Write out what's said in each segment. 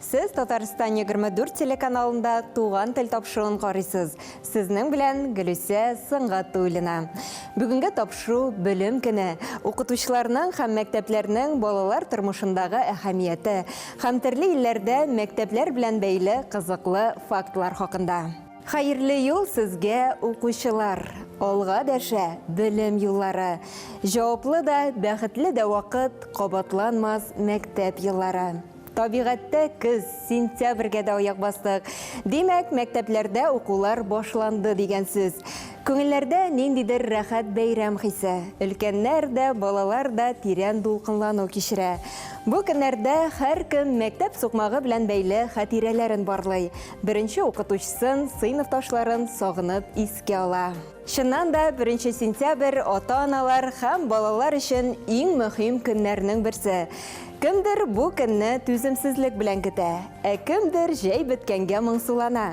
Сез Татарстан 24 телеканалында Туган тел тапшыруын карыйсыз. Сезнең белән Гөлүсә Сынгатуллина. Бүгенге тапшыру Белем көне, укытучыларның һәм мәктәпләрнең балалар тормышындагы әһәмияте һәм төрле илләрдә мәктәпләр белән бәйле кызыклы фактлар хакында. Хәерле юл сезгә, укучылар! Алга дәшә белем юллары, җаваплы да, бәхетле дә вакыт, кабатланмас мәктәп еллары. Табигатьтә көз, сентябрьгә дә аяк бастык. Димәк, мәктәпләрдә укулар башланды дигән сүз. Күңелләрдә ниндидер рәхәт бәйрәм хисе. Өлкәннәр дә, балалар да тирән дулкынлану кичерә. Бу көннәрдә һәркем мәктәп сукмагы белән бәйле хатирәләрен барлый, беренче укытучысын, сыйныфташларын сагынып искә ала. Чыннан да, беренче сентябрь ата-аналар һәм балалар өчен иң мөһим көннәрнең берсе. Кемдер бу көнне түземсезлек белән көтә, ә кемдер җәй беткәнгә моңсулана.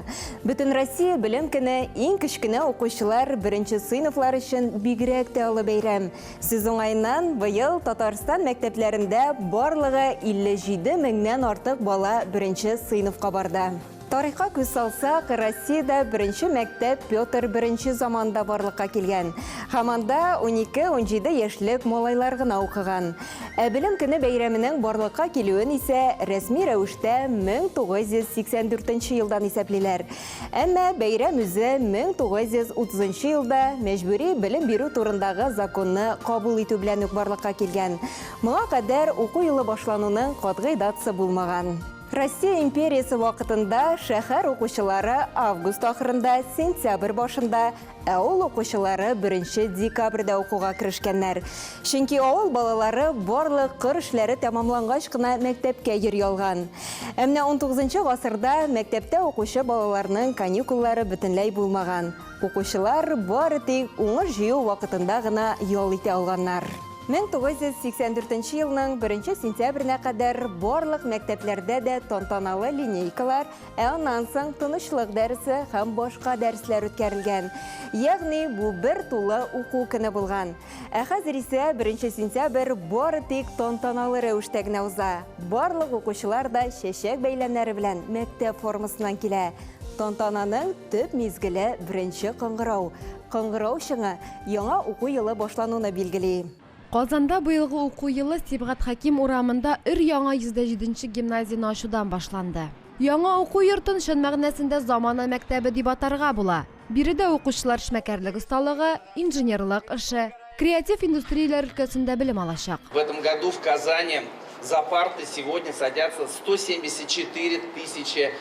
Бөтенроссия белем көне иң кечкенә укучылар, беренче сыйныфлар өчен бигрәк тә олы бәйрәм. Сүз уңаеннан, быел Татарстан мәктәпләрендә барлыгы 57 меңнән артык бала беренче сыйныфка барды. Тарихка күз салсак, Россиядә беренче мәктәп Петр I заманында барлыкка килгән һәм анда 12-17 яшьлек малайлар гына укыган. Ә Белем көне бәйрәменең барлыкка килүен исә рәсми рәвештә 1984 елдан исәплиләр. Әмма бәйрәм үзе 1930 елда Мәҗбүри белем бирү турындагы законны кабул итү белән үк барлыкка килгән. Моңа кадәр уку елы башлануның катгый датасы булмаган. Россия империясе вакытында шәһәр укучылары август ахырында, сентябрь башында, ә ул укучылары 1 декабрьдә укуга керешкәннәр. Чөнки авыл балалары барлык кыр эшләре тәмамлангач кына мәктәпкә йөри алган. Ә менә 19 гасырда мәктәптә укучы балаларның каникуллары бөтенләй булмаган. Укучылар бары тик уңыш җыю вакытында гына ял итә алганнар. 1984 елның 1 сентябренә кадәр барлык мәктәпләрдә дә тантаналы линейкалар, ә аннан соң тынычлык дәресе һәм башка дәресләр үткәрелгән. Ягъни бу бер тулы уку көне булган. Ә хәзер исә 1 сентябрь бары тик тантаналы рәвештә генә уза. Барлык укучылар да чәчәк-бәйләмнәре белән мәктәп формасыннан килә. Тантананың төп мизгеле, беренче кыңгырау. Кыңгырау чыңы яңа уку елы башлануны билгели. Казанда быелгы уку елы Сибгат Хәким урамында өр-яңа 107 нче гимназияне ачудан башланды. Яңа уку йортын чын мәгънәсендә замана мәктәбе дип атарга була. Биредә укучылар эшмәкәрлек осталыгы, инженерлык эше, креатив индустрияләр өлкәсендә белем алачак. В этом году в Казани за парты сегодня садятся 174 тысячи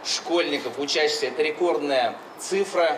школьников, учащихся. Это рекордная цифра.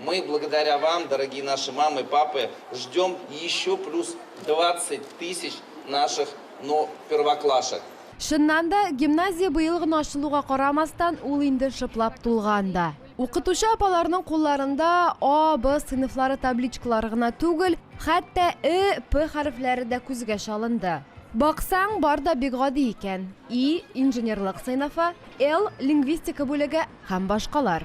Мы благодаря вам, дорогие наши мамы, папы, ждем еще плюс двадцать тысяч наших но первоклашек. Чыннан да, гимназия быел гына ачылуга карамастан, ул инде шыплап тулган да. Укытучы апаларның кулларында А, Б сыйныфлары табличкалары гына түгел, хәтта Э, П хәрефләре дә күзгә чалынды. Баксаң, бар да бик гади икән, И, инженерлык сыйныфы, Л, лингвистика бүлеге һәм башкалар.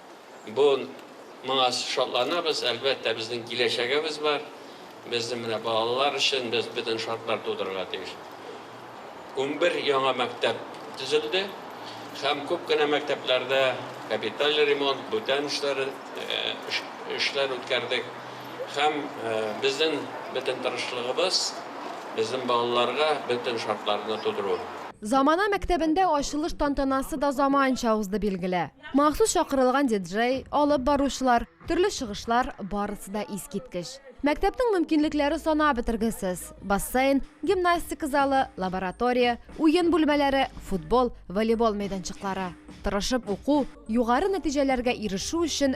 Бу моңа шатланабыз, әлбәттә, безнең киләчәгебез бар. Безнең менә балалар өчен без бөтен шартлар тудырырга тиеш. Унбер яңа мәктәп төзелде һәм күп кенә мәктәпләрдә капиталь ремонт, бүтән эшләр эшләр үткәрдек. Һәм безнең бөтен тырышлыгыбыз, безнең балаларга бөтен шартларны тудыру. Замана мәктәбендә ачылыш тантанасы да заманча узды, билгеле. Махсус чакырылган диджей, алып баручылар, төрле чыгышлар, барысы да искиткеч. Мәктәпнең мөмкинлекләре санап бетергесез, бассейн, гимнастика залы, лаборатория, уен бүлмәләре, футбол, волейбол мәйданчыклары. Тырышып уку, югары нәтиҗәләргә ирешү өчен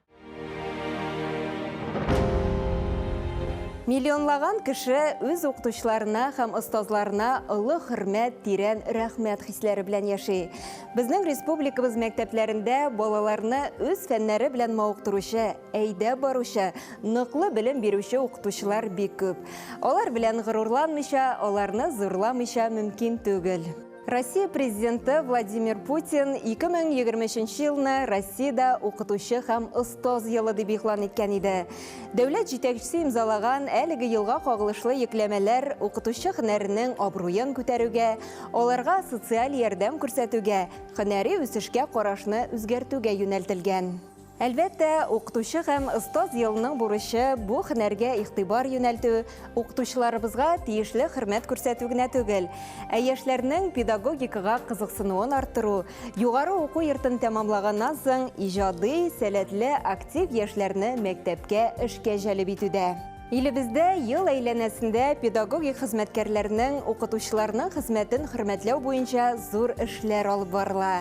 Миллионлаган кеше үз укытучыларына һәм остазларына олы хөрмәт, тирән рәхмәт хисләре белән яши. Безнең республикабыз мәктәпләрендә балаларны үз фәннәре белән мавыктыручы, әйдә баручы, ныклы белем бирүче укытучылар бик күп. Алар белән горурланмыйча, аларны зурламыйча мөмкин түгел. Россия президенты Владимир Путин 2023 елны Россиядә укытучы һәм остоз елы дип игълан иткән иде. Дәүләт җитәкчесе имзалаган әлеге елга кагылышлы йөкләмәләр укытучы һөнәренең абруен күтәрүгә, аларга социаль ярдәм күрсәтүгә, һөнәри үсешкә карашны үзгәртүгә юнәлтелгән. Әлбәттә, укытучы һәм остаз елының бурычы бу һөнәргә игътибар юнәлтү, укытучыларыбызга тиешле хөрмәт күрсәтү генә түгел, ә яшьләрнең педагогикага кызыксынуын арттыру, югары уку йортын тәмамлаганнан соң иҗади, сәләтле, актив яшьләрне мәктәпкә эшкә җәлеп итү дә. Илебездә ел әйләнәсендә педагогик хезмәткәрләрнең, укытучыларның хезмәтен хөрмәтләү буенча зур эшләр алып барыла.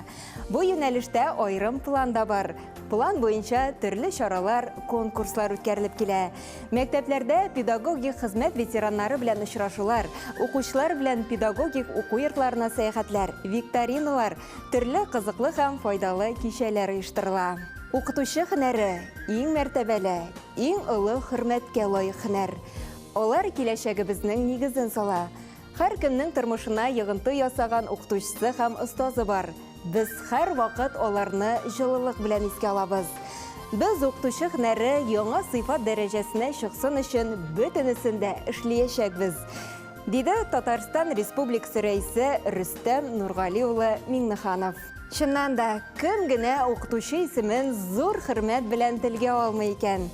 Бу юнәлештә аерым план да бар. План буенча төрле чаралар, конкурслар үткәрелеп килә. Мәктәпләрдә педагогик хезмәт ветераннары белән очрашулар, укучылар белән педагогик уку йортларына сәяхәтләр, викториналар, төрле кызыклы һәм файдалы кичәләр оештырыла. Укытучы һөнәре, иң мәртәбәле, иң олы хөрмәткә лаек һөнәр. Алар киләчәгебезнең нигезен сала. Хәр кемнең тормышына йогынты ясаган укытучысы һәм остазы бар. Без хәр вакыт аларны җылылык белән искә алабыз. Без укытучы һөнәре яңа сыйфат дәрәҗәсенә чыксын өчен бөтенесен дә эшлиячәкбез, диде Татарстан Республикасы Рәисе Рөстәм Нургали улы Миңнеханов. Чыннан да, кем генә укытучы исемен зур хөрмәт белән телгә алмый икән?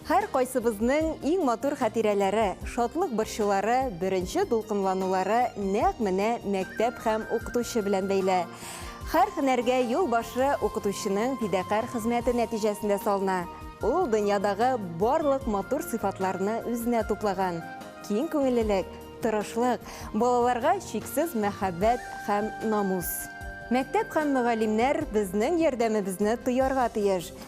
Һәр кайсыбызның иң матур хатирәләре, шатлык борчулары, беренче дулкынланулары нәкъ менә мәктәп һәм укытучы белән бәйле. Хәр һөнәргә юл башы укытучының фидакарь хезмәте нәтиҗәсендә салына. Ул дөньядагы барлык матур сыйфатларны үзенә туплаган, киң күңеллелек, тырышлык, балаларга чиксез мәхәббәт һәм намус. Мәктәп һәм мөгаллимнәр безнең ярдәмебезне тоярга тиеш,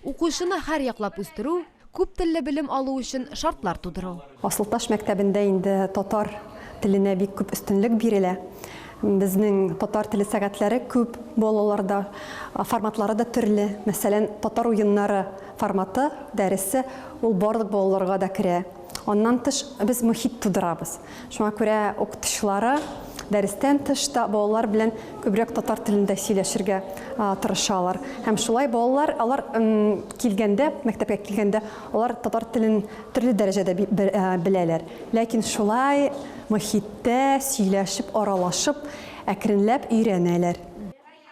Укучыны һәрьяклап үстерү, күп телле белем алу өчен шартлар тудыру. Асылташ мәктәбендә инде татар теленә бик күп өстенлек бирелә. Безнең татар теле сәгатьләре күп балаларда, форматлары да төрле. Мәсәлән, татар уеннары форматы, дәресе, ул барлык балаларга да керә. Аннан тыш, без мохит тудырабыз. Шуңа күрә укытучылары дәрестән тыш та балалар белән күбрәк татар телендә сөйләшергә тырышалар. Һәм шулай балалар, алар килгәндә, мәктәпкә килгәндә, алар татар телен төрле дәрәҗәдә беләләр. Ләкин шулай мохиттә сөйләшеп, аралашып, әкренләп өйрәнәләр.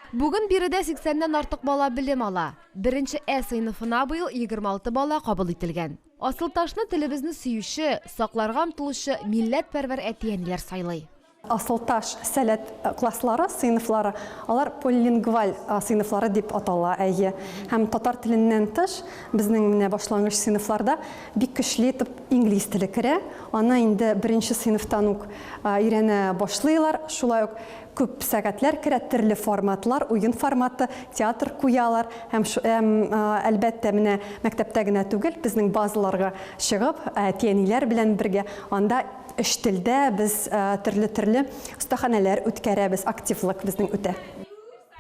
Бүген биредә 80 нән артык бала белем ала. Беренче Э сыйныфына быел 26 бала кабул ителгән. Асылташны телебезне сөюче, сакларга омтылучы милләтпәрвәр әти-әниләр сайлый. Асылташ сәләт класслары, сыйныфлары, алар полилингваль сыйныфлары дип атала, әйе. Һәм татар теленнән тыш, безнең менә башлангыч сыйныфларда бик көчле итеп инглиз теле керә. Аны инде беренче сыйныфтан ук өйрәнә башлыйлар. Шулай ук Күп сәгатьләр керә төрле форматлар, уен форматы, театр куялар һәм, һәм әлбәттә, менә мәктәптә генә түгел, безнең базаларга чыгып, әти-әниләр белән бергә анда өч телдә без төрле-төрле остаханәләр үткәрәбез, активлык безнең үтә.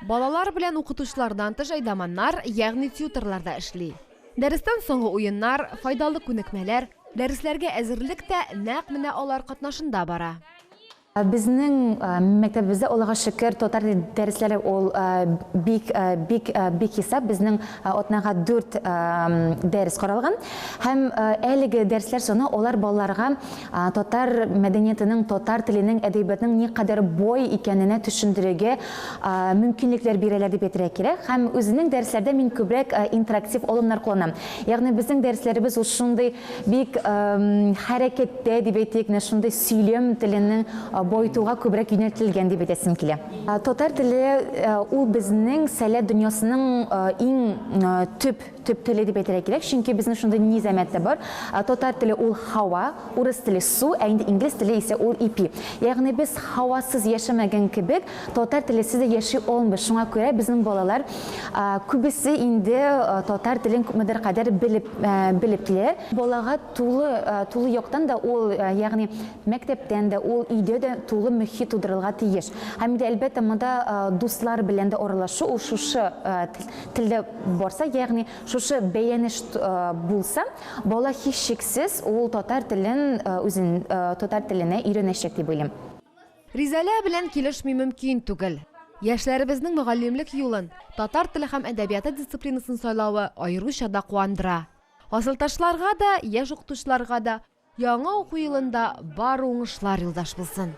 Балалар белән укытучылардан тыш әйдаманнар, ягъни тьютерлар да эшли. Дәрестән соңгы уеннар, файдалы күнекмәләр, дәресләргә әзерлек тә нәкъ менә алар катнашында бара. Безнең мәктәбебездә Аллага шөкер татар теле дәресләре ул бик бик бик хисап безнең атнага дүрт дәрес каралган һәм әлеге дәресләр саны алар балаларга татар мәдәниятының татар теленең әдәбиятның никадәр бай икәненә төшендерергә мөмкинлекләр бирәләр дип әйтергә кирәк һәм үзенең дәресләрдә мин күбрәк интерактив алымнар кулланам ягъни безнең дәресләребез ул шундый Бик хәрәкәттә, дип әйтик, менә шундый сөйләм теленең баетуга күбрәк юнәлтелгән дип әйтәсем килә. Татар теле ул безнең сәләт дөньясының иң төп, төп теле дип әйтергә кирәк, чөнки безнең шундый низамәт тә бар, татар теле ул һава, урыс теле су, ә инде инглиз теле исә ул ипи. Ягъни без һавасыз яшәмәгән кебек, Татар телесез дә яши алмый, шуңа күрә безнең балалар күбесе инде татар телен күпмедер кадәр белеп, белеп килә. Балага тулы, тулы яктан да ул, ягъни мәктәптән дә, ул өйдә дә тулы мөхит тудырылга тиеш. Һәм инде әлбәттә монда дуслар белән дә аралашу ул шушы телдә барса, ягъни шушы бәянеш булса, бала һичшиксез ул татар телен үзен, татар теленә өйрәнәчәк дип уйлыйм. Ризәлә белән килешми мөмкин түгел. Яшьләребезнең мөгаллимлек юлын, татар теле һәм әдәбияты дисциплинасын сайлавы аеруча да куандыра. Асылташларга да, яшь укытучыларга да яңа уку елында бары уңышлар юлдаш булсын!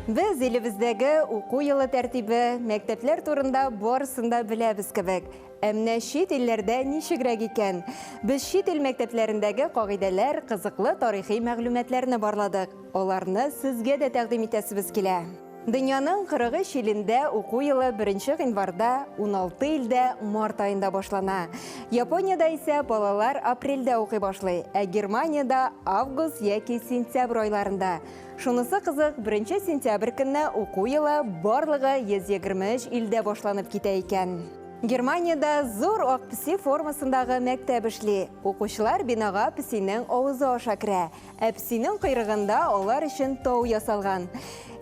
Без илебездәге уку елы тәртибе, мәктәпләр турында барысын да беләбез кебек, Ә менә чит илләрдә ничегрәк икән? Без чит ил мәктәпләрендәге кагыйдәләр, кызыклы тарихи мәгълүматларны барладык. Аларны сезгә дә тәкъдим итәсебез килә. Дөньяның 43 илендә уку елы беренче гыйнварда, уналты илдә март аенда башлана. Япониядә исә балалар апрельдә укый башлый, ә Германиядә, август яки сентябрь айларында. Шунысы кызык, беренче сентябрь көнне уку елы барлыгы 123 илдә башланып китә икән. Германиядә зур ак песи формасындагы мәктәп эшли. Укучылар бинага песинең авызы аша керә, ә песинең койрыгында алар өчен тау ясалган.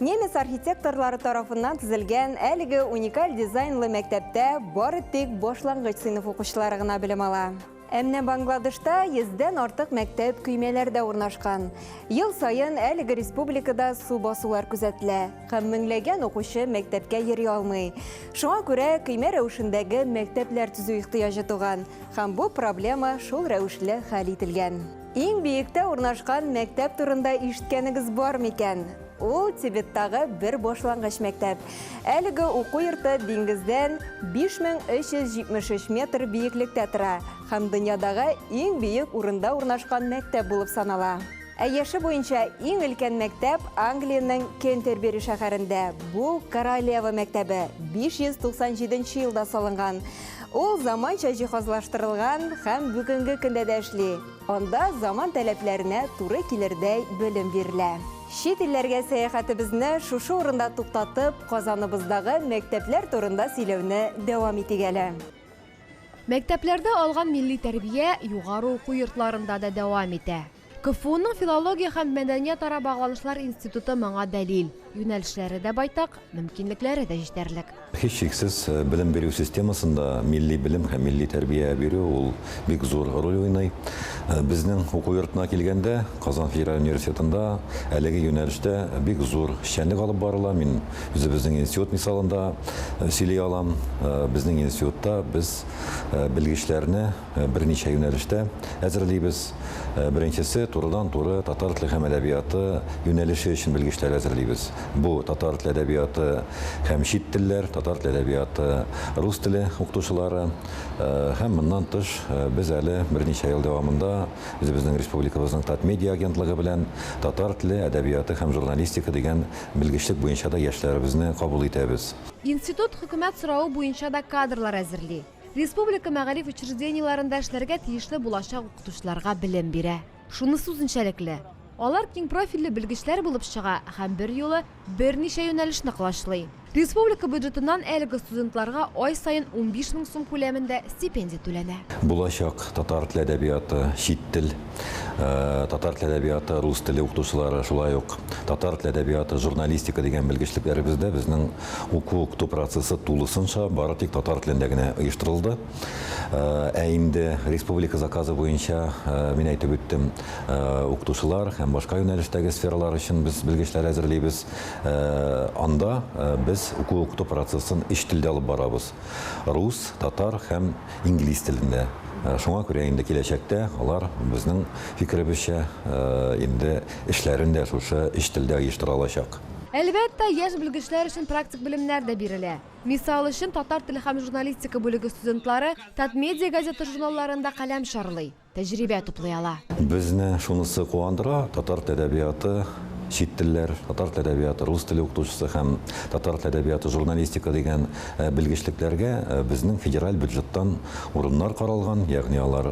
Немец архитекторлары тарафыннан төзелгән әлеге уникаль дизайнлы мәктәптә бары тик башлангыч сыйныф укучылары гына белем ала. Ә менә Бангладешта йөздән артык мәктәп көймәләрдә урнашкан. Ел саен әлеге республикада су басулар күзәтелә һәм меңләгән укучы мәктәпкә йөри алмый. Шуңа күрә көймә рәвешендәге мәктәпләр төзү ихтыяҗы туган һәм бу проблема шул рәвешле хәл ителгән. Иң биектә урнашкан мәктәп турында ишеткәнегез бар микән? Ул Тибеттагы бер башлангыч мәктәп. Әлеге уку йорты диңгездән 5373 метр биеклектә тора һәм дөньядагы иң биек урында урнашкан мәктәп булып санала. Ә яше буенча иң өлкән мәктәп Англиянең Кентербери шәһәрендә. Бу Королева мәктәбе 597 елда салынган. Ул заманча җиһазлаштырылган һәм бүгенге көндә дә эшли. Анда заман таләпләренә туры килердәй белем бирелә. Чит илләргә сәяхәтебезне шушы урында туктатып, Казаныбыздагы мәктәпләр турында сөйләүне дәвам итик әле. Мәктәпләрдә алган милли тәрбия югары уку йортларында да дәвам итә. КФУның филология һәм мәдәниятара багланышлар институты моңа дәлил. Юнәлешләре дә байтак, мөмкинлекләре дә җитәрлек. Һичшиксез, белем бирү системасында милли белем һәм милли тәрбия бирү ул бик зур роль уйный. Безнең уку йортына килгәндә, Казан федераль университетында әлеге юнәлештә бик зур эшчәнлек алып барыла. Мин үзебезнең институт мисалында сөйли алам. Безнең институтта без белгечләрне, берничә юнәлештә әзерлибез. Беренчесе, турыдан-туры татар теле һәм әдәбияты юнәлеше өчен белгечләр әзерлибез. Бу, татар теле әдәбияты һәм чит телләр, татар теле әдәбияты, рус теле укытучылары. Һәм моннан тыш, без әле берничә ел дәвамында үзебезнең республикабызның Татмедиа агентлыгы белән татар теле, әдәбияты һәм журналистика дигән белгечлек буенча да яшьләребезне кабул итәбез. Институт хөкүмәт соравы буенча да кадрлар әзерли. Республика мәгариф учреждениеләрендә эшләргә тиешле булачак укытучыларга белем бирә. Шунысы үзенчәлекле, алар киң профильле белгечләр булып чыга һәм берьюлы берничә юнәлешне колачлый. Республика бюджетыннан әлеге студентларга ай саен унбиш мең сум күләмендә стипендия түләнә. Булачак татар тел әдәбияты, чит тел. Э, татар теле әдәбияты, рус теле укытучылары, шулай ук татар теле әдәбияты, журналистика дигән белгечлекләребездә безнең уку укыту процессы тулысынча бары тик татар телендә генә оештырылды. Э, ә инде республика заказы буенча э, мин әйтеп үттем, укытучылар һәм башка юнәлештәге сфералар өчен без белгечләр әзерлибез. Анда без уку укыту процессын өч телдә алып барабыз. Рус, татар һәм инглиз телендә. Шуңа күрә инде киләчәктә алар, безнең фикеребезчә, инде эшләрен дә шушы өч телдә оештыра алачак. Әлбәттә, яшь белгечләр өчен практик белемнәр дә бирелә. Мисал өчен, татар теле һәм журналистика бүлеге студентлары Татмедиа газета-журналларында каләм чарлый. тәҗрибә туплый ала. Безне шунысы куандыра, татар тәдәбияты, чит телләр, татар тәдәбияты, рус теле укытучысы һәм татар тәдәбияты, журналистика дигән белгечлекләргә безнең федераль бюджеттан урыннар каралган, ягъни алар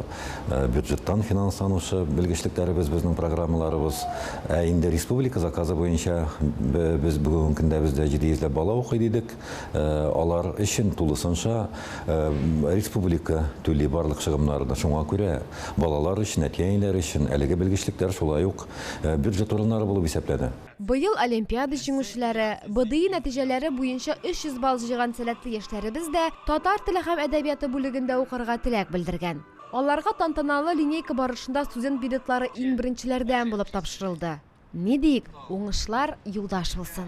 бюджеттан финансланучы белгечлекләребез, безнең программаларыбыз. Ә инде республика заказы буенча без бүгенге көндә бездә җиде йөзләп бала укый дидек. алар өчен тулысынча республика түли барлык чыгымнарны. Шуңа күрә балалар өчен, әти-әниләр өчен әлеге белгечлекләр шулай ук бюджет урыннары булып исәпләнә. Быел олимпиада җиңүчеләре, БДИ нәтиҗәләре буенча 300 балл җыйган сәләтле яшьләребез дә татар теле һәм әдәбияты бүлегендә укырга теләк белдергән. Аларга тантаналы линейка барышында студент билетлары иң беренчеләрдән булып тапшырылды. Ни диик, уңышлар юлдаш булсын!